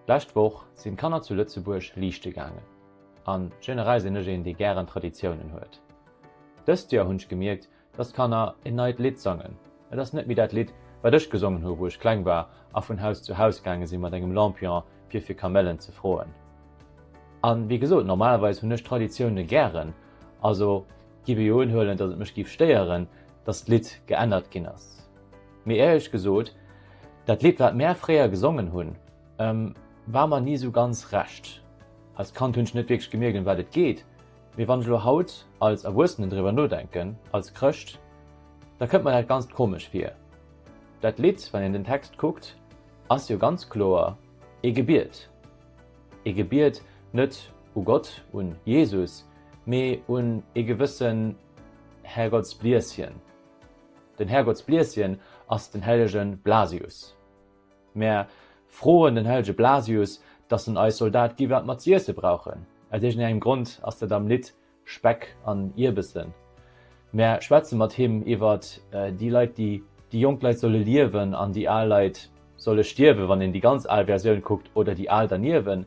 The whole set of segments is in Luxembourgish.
Lescht Woch sinn d'Kanner zu Lëtzebuerg liichte gaangen. A generell sinn ech een, dee gären Traditiounen huet. Dëst Joer hunn ech gemierkt, dass d'Kanner en neit Lidd sangen. Et ass net méi dat Lidd, wat ech gesongen hu wou ech kleng war a vun Haus zu Haus gaange si mat engem Lampion, fir fir Kamellen ze froen. A wéi gesot, normalerweis hunn ech Traditioune gären. Also giff ech uehuelen, dass et mech giff stéieren, dass d'Lidd geännert ginn ass. Mee éierlech gesot, dat Lidd wat mär fréier gesongen hunn war mer ni sou ganz Recht. Als Kand hunn ech net wierklech gemierkt em wat et geet, mee wann ech elo haut als Erwuessenen driwwer nodenken, als Chrëscht, da kënnt mer dat Ganzt komesch vir. Dat Lidd, wann een den Text kuckt, ass jo ganz kloer ee Gebiet. Ee Gebiet net u Gott, un Jesus, mee un ee gewëssen Herrgottsblieschen. Den Härgottsblieschen ass den hellege Blasius. Mär froen den hellege Blasius, dass en eis Soldat gi wat mer z'iesse brauchen. Aus iergendengem Grond ass dat am Lidd Speck an Ierbessen. Mär schwätze mat him iwwer déi Leit, déi déi jonk Leit solle liewen an déi al Leit solle stierwen, wann een déi ganz al Versioun kuckt, oder déi al derniewent.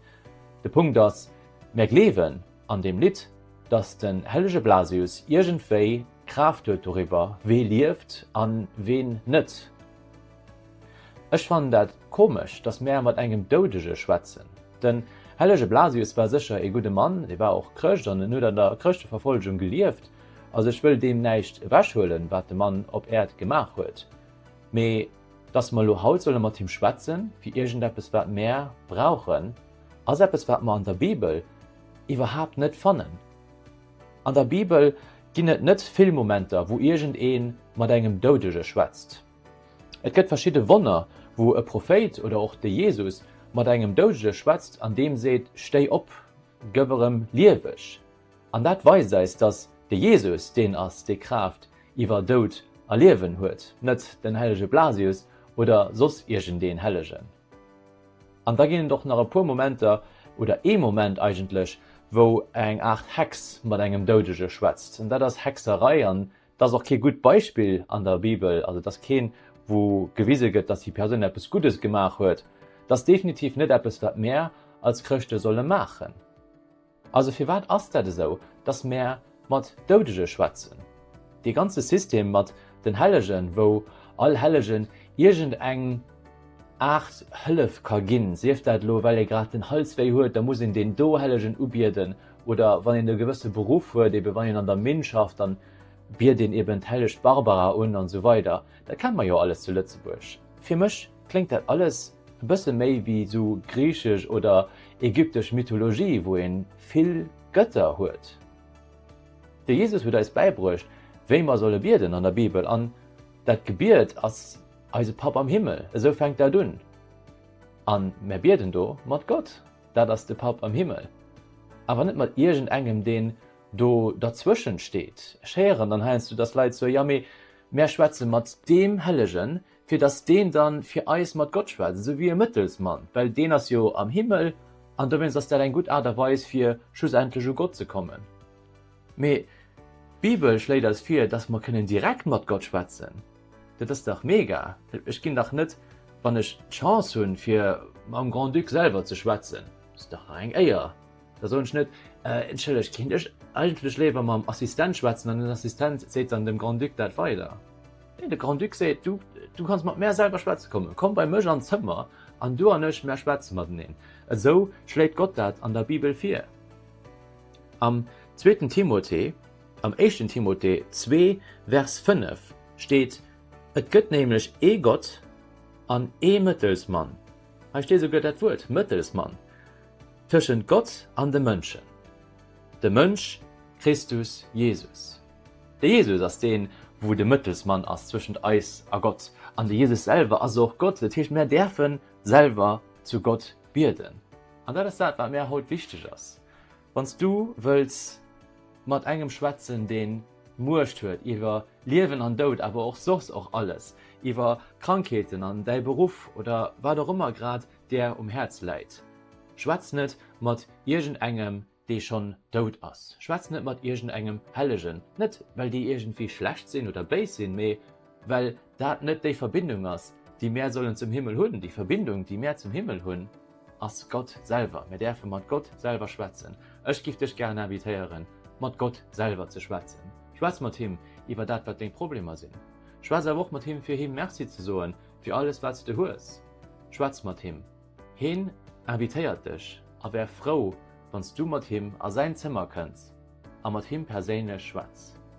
De Punkt ass, mär gleewen an deem Lidd, dass den hellege Blasius iergendwéi. Kraaft huet doriwwer, wee lieft an ween net. Ech fannen dat komesch, dass mär mat engem Doudege schwätzen. Den hellege Blasius war sécher ee gudde Mann, e war och Chrëscht an en huet an der Chrëschteverfollegung gelieft. Also ech wëll deem näischt ewechhuelen, wat de Mann op Äerd gemaach huet. Mee dass mer elo haut solle mat him schwätzen, fir iergendeppes wat mär brauchen, ass eppes wat mer an der Bibel iwwerhaapt net fannen. An der Bibel ginn et net vill Momenter, wou iergend ee mat engem Doudege schwätzt. Et gëtt verschidde Wonner, wou e Prophéit oder och de Jesus mat engem Doudege schwätzt an deem seet, Stéi op, gëff erëm lieweg. An dat weist eis, datt de Jesus deen ass, dee Kraaft iwwer Doud a Liewen huet, net den hellege Blasius oder soss iergendeen Hellegen. An da ginn et och nach e puer Momenter, oder ee Moment eigentlech, wou eng Aart Hex mat engem Doudege schwätzt. An dat ass Hexerei. An dat ass och kee gutt Beispill an der Bibel. Also et ass keen, wou gewise gëtt, datt déi Persoun eppes Guddes gemaach huet. Et ass definitiv net eppes, wat mär als Chrëschte solle maachen. Also firwat ass dat esou, dass mär mat Doudege schwätzen? Dee ganze System mat den Hellegen, wou all Hellegen iergend eng Aart Hëllef ka ginn, sief dat elo well ee grad den Hals wéi huet, da muss een deen do Hellegen ubieden oder wann een e gewësse Beruff huet, eben wann een an der Minn schafft, dann biet een eben d'Helleg Barbara un an esou weider. Dat kennt mer jo alles zu Lëtzebuerg. Fir mech Kléngt dat alles e bësse méi wéi esou griichesch oder ägyptesch Mythologie, wou ee vill Gëtter huet? De Jesus huet eis bäibruecht, wéi mer solle bieden an der Bibel an dat Gebiet ass eise Papp am Himmel, esou fänkt dat un. A mär bieden do mat Gott, dat ass de Papp am Himmel, awer net mat iergendengem, deen do derzwëschent steet. Ech héieren dann heiansdo, dass Leit soe, jo, mee mär schwätze mat deem Hellegen, fir dass deen da fir eis mat Gott schwätzt, esou wéi e Mëttelsmann, well deen ass jo am Himmel, an dowéinst ass dat eng gutt Aart a Weis, fir schlussendlech u Gott ze kommen. Mee d'Bibel schléit eis vir, dass mer kënnen direkt mat Gott schwätzen. Dat ass dach mega! Ech ginn dach net, wann ech d'Chance hunn, fir mam Grand-Duc selwer ze schwätzen, dat ass dach nach eng Éier! Da soen ech net, Entschëllegt, kéint ech eigentlech léiwer mam Assistent schwätzen? An den Assistent seet dann dem Grand-Duc dat weider. Nee, de Grand-Duc seet, Du, du kanns mat mär selwer schwätze kommen. Komm bei mech an d'Zëmmer, an du an ech, mär schwätze mateneen. Esou schléit Gott dat an der Bibel vir. Am zweeten Timothée, am éischten Timothée zwee, Vers 5 steet, Et gëtt nämlech ee Gott an ee Mëttelsmann, hei steet esouguer dat Wuert, Mëttelsmann, Tëschent Gott an de Mënschen. De Mënsch, Christus, Jesus. De Jesus ass deen, wou de Mëttelsmann ass zwëschent eis a Gott. An de Jesus selwer ass och Gott. Dat heescht, mär däerfen selwer zu Gott bieden. An dat ass dat, wat mär haut wichteg ass. Wann s du wëlls mat engem schwätzen, deen Muecht huet iwwer Liewen an Doud, awer och soss och alles, iwwer Krankheeten an däi Beruff oder wat och ëmmer grad där um Häerz läit. Schwätz net mat iergend engem, dee schonn dout ass. Schwätz net mat iergend engem Hellegen. Net, well déi iergendwéi schlecht sinn oder béis sinn, mee well dat net déi Verbindung ass, déi mär sollen zum Himmel hunn. Déi Verbindung, déi mär zum Himmel hunn, ass Gott selwer. Mär däerfe mat Gott selwer schwätzen. Ech giff dech gären invitéieren, mat Gott selwer ze schwätzen. Schwätz mat him iwwer dat, wat deng Problemer sinn. Schwätz awer och mat him, fir him Merci ze soen, Fir alles wat s de hues, schwätz mat him. Heen invitéiert dech a wär frou wann s du mat him a säin Zëmmer kënns a mat him perséinlech schwätz.